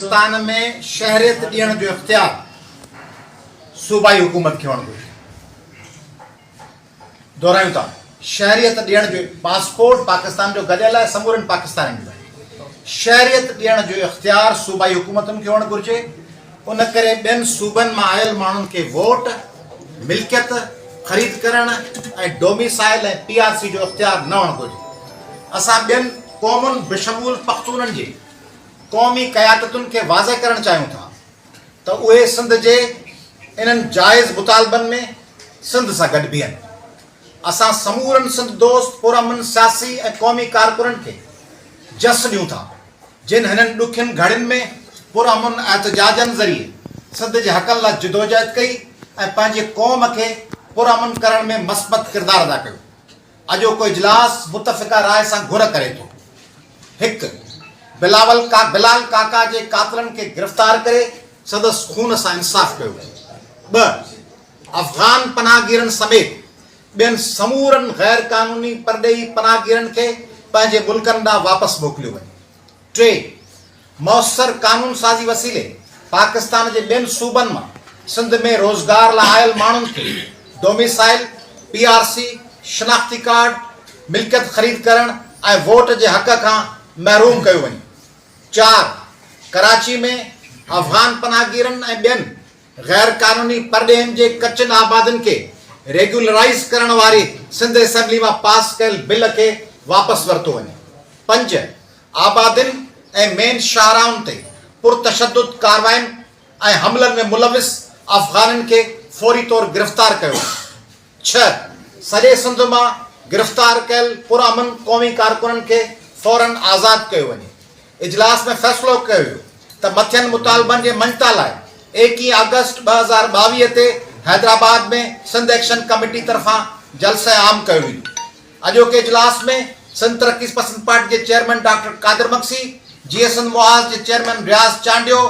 پاڪستان ۾ شهريت ڏيڻ جو اختيار صوبائي حڪومت کي هئڻ گهرجي. دهرايون ٿا، شهريت ڏيڻ جو پاسپورٽ پاڪستان جو گڏيل آهي، سمورن پاڪستانين جو آهي. شهريت ڏيڻ جو اختيار صوبائي حڪومتن کي هئڻ گهرجي، ان ڪري ٻين صوبن مان آيل ماڻهن کي ووٽ، ملڪيت خريد ڪرڻ ۽ ڊوميسائل ۽ پي آر سي جو اختيار نه هئڻ گهرجي. اسان ٻين قومن بشمول پختونن جي قومي قيادتن کي واضح ڪرڻ چاهيون ٿا ته اهي سنڌ جي انهن جائز مطالبن ۾ سنڌ سان گڏ بيهن. اسان سمورن سنڌ دوست پرامن سياسي ۽ قومي ڪارڪنن کي جس ڏيون ٿا جن هنن ڏکين گهڙين ۾ پرامن احتجاجن ذريعي سنڌ جي حقن لا جدوجهد ڪئي ۽ پنهنجي قوم کي پرامن ڪرڻ ۾ مثبت ڪردار ادا ڪيو. اڄوڪو اجلاس متفقه راء سان گهر ڪري ٿو، هڪ، بلاول ڪا بلال ڪاڪا جي قاتلن کي گرفتار ڪري سندس خون سان انصاف ڪيو وڃي، ٻه، افغان پناهگيرن سميت ٻين سمورن غيرقانوني پرڏيهي پناهگيرن کي پنهنجي ملڪن ڏانهن واپس موڪليو وڃي. ٽي، موثر قانون سازي وسيلي پاڪستان جي ٻين صوبن مان سنڌ ۾ روزگار لاء آيل ماڻهن کي ڊوميسائيل، پي آر سي، شناختي ڪارڊ، ملڪيت خريد ڪرڻ ۽ ووٽ جي حق کان محروم ڪيو وڃي. چار، ڪراچي ۾ افغان پناهگيرن ۽ ٻين غير قانوني پرڏيهين جي ڪچن آبادين کي ريگيولرائيز ڪرڻ واري سنڌ اسيمبلي مان پاس ڪيل بل کي واپس ورتو وڃي. پنج، آبادين ۽ مين شاهراهن تي پرتشدد ڪارواين ۽ حملن ۾ ملوث افغانين کي فوري طور گرفتار ڪيو وڃي. ڇهه، سڄي سنڌ مان گرفتار ڪيل پرامن قومي ڪارڪنن کي فورا آزاد ڪيو وڃي. اجلاس ۾ فيصلو ڪيو ويو ته مٿين مطالبن جي مڃتا لاء ايڪيهه آگسٽ ٻه هزار ٻاويهه تي حيدرآباد ۾ سنڌ ايڪشن ڪميٽي طرفان جلسه عام ڪيو ويندو. اڄوڪي اجلاس ۾ سنڌ ترقي پسند پارٽي جي چيئرمين ڊاڪٽر قادر مگسي، جيئي سنڌ محاذ جي چيئرمين رياض چانڊيو،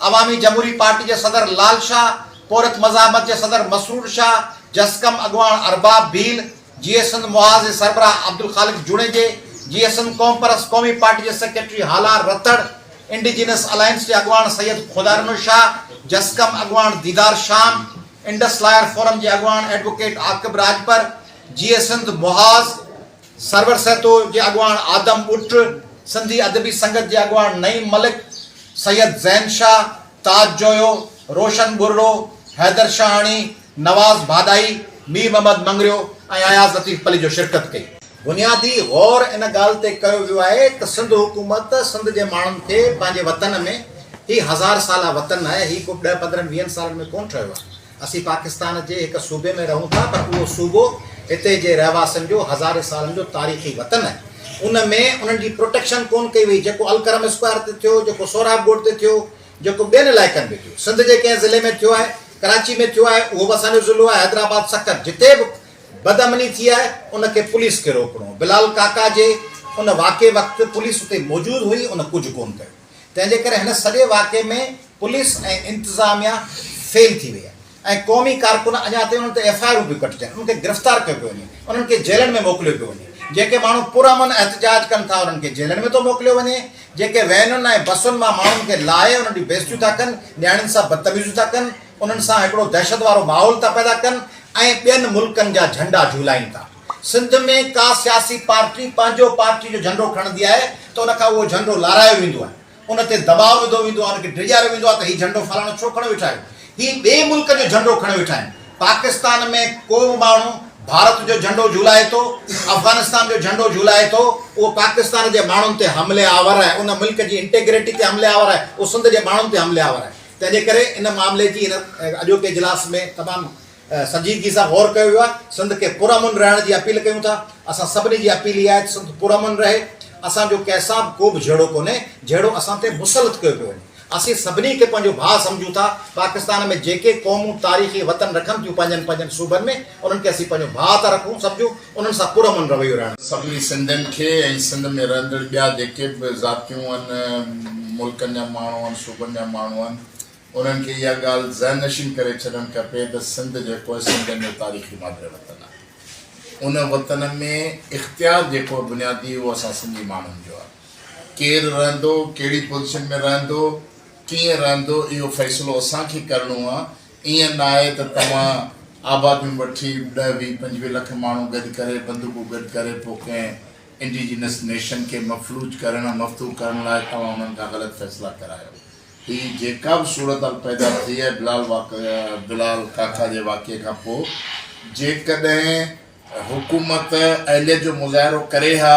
عوامي جمهوري پارٽي جي صدر لال شاهه، پورهيت مزاحمت جي صدر مسرور شاهه، جسقم اڳواڻ ارباب ڀيل، جيئي سنڌ محاذ جي سربراهه عبدالخالق جوڻيجي، جيئي سنڌ قومپرست قومي پارٽي جي secretary Halar Ratar, indigenous alliance جي اڳواڻ سيد خدارنو شاهه، جسقم اڳواڻ ديدار شام، انڊس لاير فورم جي اڳواڻ ايڊووڪيٽ عاقب راڄپر، جيئي سنڌ محاذ، سرور سهتو جي اڳواڻ آدم ٻٽ، سنڌي ادبي سنگت جي اڳواڻ نعيم ملڪ، سيد زين شاهه، تاج جويو، روشن ٻرڙو، حيدر شاهاڻي، نواز ڀاڏائي، مير محمد مڱريو ۽ اياز لطيف پليجو شرڪت ڪئي. بنيادي غور ان ڳالهه تي ڪيو ويو آهي ته سنڌ حڪومت سنڌ جي ماڻهن کي پنهنجي وطن ۾، هي هزار سالا وطن آهي، هي ڪو ڏهه پندرهن ويهن سالن ۾ ڪونه ٺهيو آهي، اسين پاڪستان جي هڪ صوبي ۾ رهون ٿا پر اهو صوبو هتي جي رهواسين جو هزارين سالن جو تاريخي وطن آهي ان ۾ انهن جي پروٽيڪشن ڪون ڪئي وئي جيڪو الڪرم اسڪوائر تي ٿيو جيڪو سهراب ڳوٺ تي ٿيو جيڪو ٻين علائقن ۾ ٿيو سنڌ جي ڪنهن ضلعي ۾ ٿيو آهي ڪراچي ۾ ٿيو آهي اهو به اسان جو ضلعو آهي حيدرآباد سکر جتي به بد امني ٿي آهي ان کي پوليس کي روڪڻو بلال ڪاڪا جي ان واقعي وقت پوليس اتي موجود هئي ان ڪجهه ڪون ڪيو. تنهن جي ڪري هن سڄي واقعي ۾ پوليس ۽ انتظاميا فيل ٿي وئي آهي ۽ قومي ڪارڪن اڃا تائين انهن تي ايف آء آرون پيون ڪٽجن انهن کي گرفتار ڪيو پيو وڃي انهن کي جيلن ۾ موڪليو پيو وڃي جيڪي ماڻهو پرامن احتجاج ڪن ٿا انهن کي جيلن ۾ ٿو موڪليو وڃي جيڪي وينن ۽ بسن مان ماڻهن کي لاهي انهن جون بيزتيون ٿا ڪن نياڻين سان بدتميزيون ٿا ڪن انهن سان هڪڙو دهشت وارو ماحول ٿا پيدا ڪن ۽ ٻين ملڪن جا جهنڊا جهولائين ٿا. سنڌ ۾ ڪا سياسي پارٽي پنهنجو پارٽي جو جهنڊو کڻندي آهي ته ان کان اهو جهنڊو لارايو ويندو آهي، ان تي دٻاء وڌو ويندو آهي، ان کي ڊيڄاريو ويندو آهي ته هي جهنڊو فلاڻو ڇو کڻيو ويٺا آهيو، هي ٻئي ملڪ جو جهنڊو کڻيو ويٺا آهن. پاڪستان ۾ ڪو به ماڻهو ڀارت جو جهنڊو جهولائي ٿو، افغانستان جو جهنڊو جهولائي ٿو، اهو پاڪستان جي ماڻهن تي حمله آور آهي، ان ملڪ جي انٽيگريٽي تي حمله آور آهي، اهو سنڌ جي ماڻهن تي حمله آور آهي. تنهنجي ڪري ان معاملي جي هن اڄوڪي اجلاس ۾ تمام سنجيدگي سان غور ڪيو ويو آهي، سنڌ کي پرامن رهڻ جي اپيل ڪيون ٿا، اسان سڀني جي اپيل اها آهي ته سنڌ پرامن رهي، اسان جو ڪنهن سان به ڪو به جهيڙو ڪونهي جهيڙو اسان تي مسلط ڪيو پيو وڃي، اسين سڀني کي پنهنجو ڀاء سمجهون ٿا، پاڪستان ۾ جيڪي قومون تاريخي وطن رکن ٿيون پنهنجن پنهنجن صوبن ۾ انهن کي اسين پنهنجو ڀاء ٿا رکون سمجهون، انهن سان پرامن رويو رهڻ گهرجي. سڀني سنڌين کي ۽ سنڌ ۾ رهندڙ ٻيا جيڪي به ذاتيون آهن، ملڪن جا ماڻهو آهن، صوبن جا ماڻهو آهن، انهن کي اها ڳالهه ذهن نشين ڪري ڇڏڻ کپي ته سنڌ جيڪو آهي سنڌين جو تاريخي مادر وطن آهي. ان وطن ۾ اختيار جيڪو آهي بنيادي اهو اسان سنڌي ماڻهن جو آهي. ڪير رهندو، ڪهڙي پوزيشن ۾ رهندو، ڪيئن رهندو اهو فيصلو اسان کي ڪرڻو آهي. ائين نه آهي ته توهان آباديون وٺي ڏهه ويهه پنجويهه لک ماڻهو گڏ ڪري بندوقون گڏ ڪري پوء ڪنهن انڊيجينس نيشن کي مفلوج ڪرڻ مفتوح ڪرڻ لاء توهان انهن کان غلط فيصلا ڪرايو. هي جيڪا به صورتحال پيدا ٿي آهي بلال واقع بلال ڪاڪا جي واقعي کان پوء جيڪڏهن حڪومت اهليت جو مظاهرو ڪري ها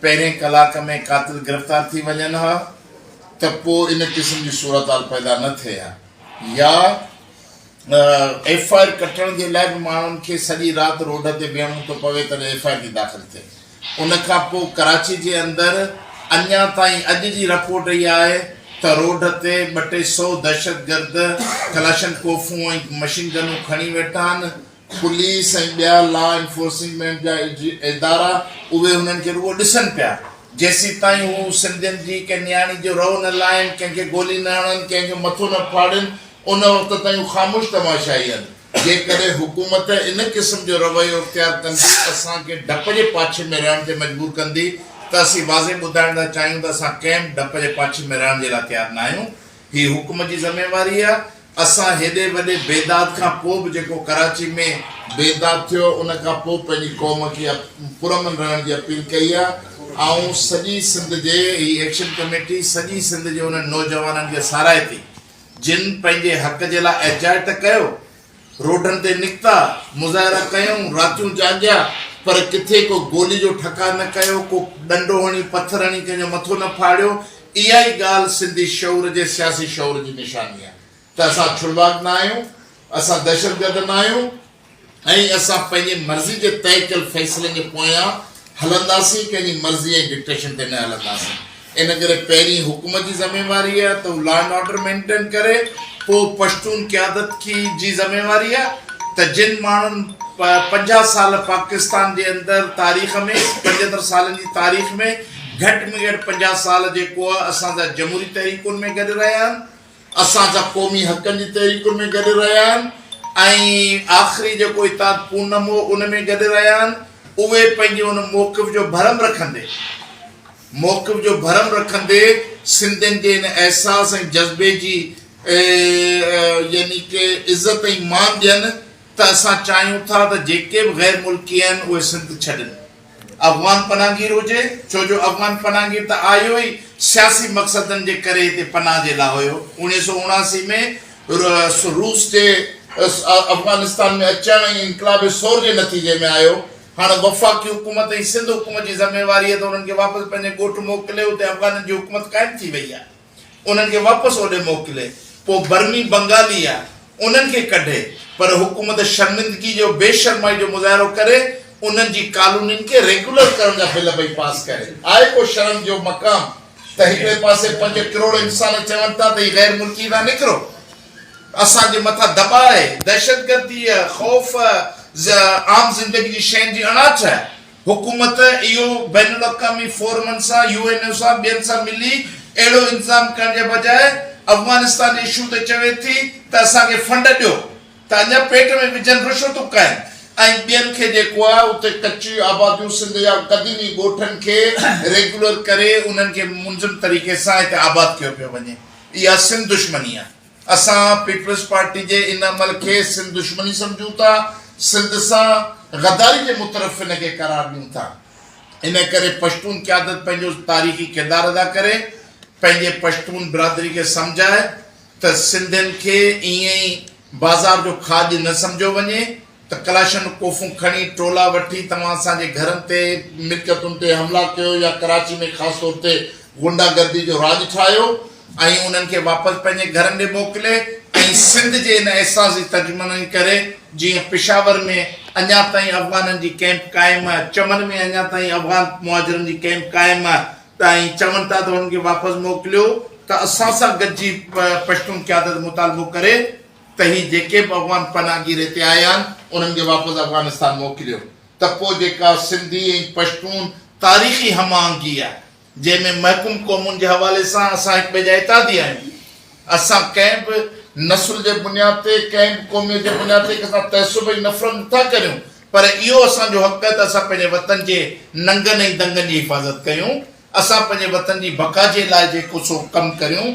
پهرين ڪلاڪ ۾ قاتل گرفتار ٿي وڃن ها ته پوء ان قسم جي صورتحال پيدا نه ٿئي ها يا ايف آء آر ڪٽڻ جي لاء به ماڻهن کي سڄي رات روڊ تي بيهڻو ٿو پوي ته ايف آء آر ٿي داخل ٿئي ان کان پوء ڪراچي جي اندر اڃا تائين اڄ جي رپورٽ اهي آهي ته روڊ تي ٻه ٽي سئو دهشتگرد ڪلاشن ڪوفون ۽ مشين گنون کڻي ويٺا آهن، پوليس ۽ ٻيا لا انفورسمينٽ جا ادارا اهي انهن کي رڳو ڏسن پيا جيسيتائين هو سنڌين جي ڪنهن نياڻي جو رئو نه لاهين، ڪنهن کي گولي نه هڻن، ڪنهن جو مٿو نه ڦاڙين ان وقت تائين هو خاموش تماشائي آهن. جيڪڏهن حڪومت ان قسم جو رويو اختيار ڪندي اسان کي ڊپ جي پاڇي ۾ رهڻ تي مجبور ڪندي ته اسين واضح ٻڌائڻ ٿا چاهيون ته اسان ڪنهن به ڊپ جي پاڇي ۾ رهڻ جي لاء تيار ناهيون. هي حڪومت جي ذميواري آهي. اسان هيڏي وڏي بيداد کان پوء به جيڪو ڪراچي ۾ بيداد ٿيو ان کان پوء پنهنجي قوم کي پرامن رهڻ جي اپيل ڪئي آهي. آئون سڄي سنڌ جي هي ايڪشن ڪميٽي سڄي سنڌ جي انهن نوجوانن کي ساراهي ٿي. جن پنهنجي حق جي لاء احجاج ته ڪيو، روڊن تي نڪتا، مظاهرا ڪيائون، راتيون جاڳيا، پر ڪٿي ڪو گولي جو ٺڪاء نه ڪيو، ڪو ڏنڊو هڻي، پٿر هڻي ڪنهن جو مٿو نه ڦاڙيو، اها ئي ڳالهه سنڌي شعور جي سياسي شعور جي نشاني آهي ته اسان ڇڙواڳ نه آهيون، اسان دهشتگرد نه آهيون. ۽ اسان پنهنجي مرضي جي طئي ڪيل فيصلن جي پويان هلنداسين، ڪنهن جي مرضي ۽ ڊڪٽيشن تي نه هلنداسين. ان ڪري پهرين حڪومت جي ذميواري آهي ته هو لا اينڊ آرڊر مينٽين ڪري، پوء پشتون قيادت جي ذميواري آهي ته جن ماڻهن پنجاهه سال پاڪستان جي اندر تاريخ ۾ پنجهتر سالن جي تاريخ ۾ گهٽ ۾ گهٽ پنجاهه سال جيڪو اسان جا جمهوري تحريڪن ۾ گڏ رهيا آهن، اسان سان قومي حقن جي تحريڪن ۾ گڏ رهيا آهن ۽ آخري جيڪو اتحاد پونم هو ان ۾ گڏ رهيا آهن اهي پنهنجي ان موقف جو ڀرم رکندي موقف جو ڀرم رکندي سنڌين جي ان احساس ۽ جذبي جي يعني ڪي عزت ۽ مان ڏين ته اسان چاهيون ٿا ته جيڪي به غير ملڪي آهن اهي سنڌ ڇڏن. افغان پناهگير هجي، ڇو جو افغان پناهگير ته آيو ئي سياسي مقصدن جي ڪري هتي پناهه جي لاء هيو. اوڻيهه سؤ اڻاسي ۾ روس جي افغانستان ۾ اچڻ ۽ انقلاب ثور جي نتيجي ۾ آيو. هاڻ وفاقي حڪومت ۽ سنڌ حڪومت جي ذميواري هي ته انهن کي واپس پنهنجي ڳوٺ موڪلي اتي افغانن جي حڪومت قائم ٿي وئي آهي. انهن کي واپس اوڏي موڪلي پوء برمي بنگالي يا انهن کي ڪڍي پر حڪومت شرمندگي جو بي شرمائي جو مظاهرو ڪري انهن جي ڪالونين کي ريگيولر ڪرڻ جا بل پئي پاس ڪري آهي ڪو شرم جو مقام ته هڪڙي پاسي پنج ڪروڙ انسان چون ٿا ته هي غير ملڪي ٿا نڪرو اسان جي مٿان دٻاء دهشتگردي خوف عام زندگي جي شين جي اڻاٺ حڪومت اهو بين الاقوامي فورمن سان، يو اين او سان ٻين سان ملي اهڙو انتظام ڪرڻ جي بجاء افغانستان اشو تي چوي ٿي ته اسان کي فنڊ ڏيو ته اڃا پيٽ ۾ وجهن رشوتون کائين ۽ ٻين کي جيڪو آهي اتي ڪچي آباديون سنڌ جا قديمي ڳوٺن کي ريگيولر ڪري انهن کي منظم طريقي سان هتي آباد ڪيو پيو وڃي اها سنڌ دشمني آهي. اسان پيپلز پارٽي جي ان عمل کي سنڌ دشمني سمجهون ٿا، سنڌ سان غداري جي مترف ان کي قرار ڏيون ٿا. ان ڪري پشتون قيادت پنهنجو تاريخي ڪردار ادا ڪري، پنهنجي پشتون برادري کي سمجهائي ته سنڌين کي ائين ئي بازار جو کاڄ نه سمجهيو وڃي، ته ڪلاشن ڪوفون کڻي ٽولا وٺي توهان اسان جي گهرن تي، ملڪيتن تي حملا ڪيو يا ڪراچي ۾ خاص طور تي غنڊا گردي جو راڄ ٺاهيو ۽ انهن کي واپس پنهنجي گهرن ڏي موڪلي ۽ سنڌ جي ان احساس جي ترجماني ڪري جيئن پشاور ۾ اڃا تائين افغانن جي ڪئمپ قائم آهي، چمن ۾ اڃا تائين افغان مهاجرن جي ڪئمپ قائم آهي ته ۽ چون ٿا ته انهن کي واپس موڪليو ته اسان سان گڏجي پشتون قيادت مطالبو ڪري. ته هي جيڪي به افغان پناهگير هتي آيا آهن انهن کي واپس افغانستان موڪليو ته پوء جيڪا سنڌي ۽ پشتون تاريخي هم آهنگي آهي جنهن ۾ محڪوم قومن جي حوالي سان اسان هڪ ٻئي جا اتحادي آهيون اسان ڪنهن به نسل جي بنياد تي ڪنهن به قوميت جي بنياد تي ڪنهن سان تعصب ۽ نفرت نه ٿا ڪريون پر اهو اسان جو حق آهي ته اسان پنهنجي وطن جي ننگن ۽ دنگن جي حفاظت ڪيون اسان پنهنجي وطن جي بقا جي لاء جيڪو سو ڪم ڪريون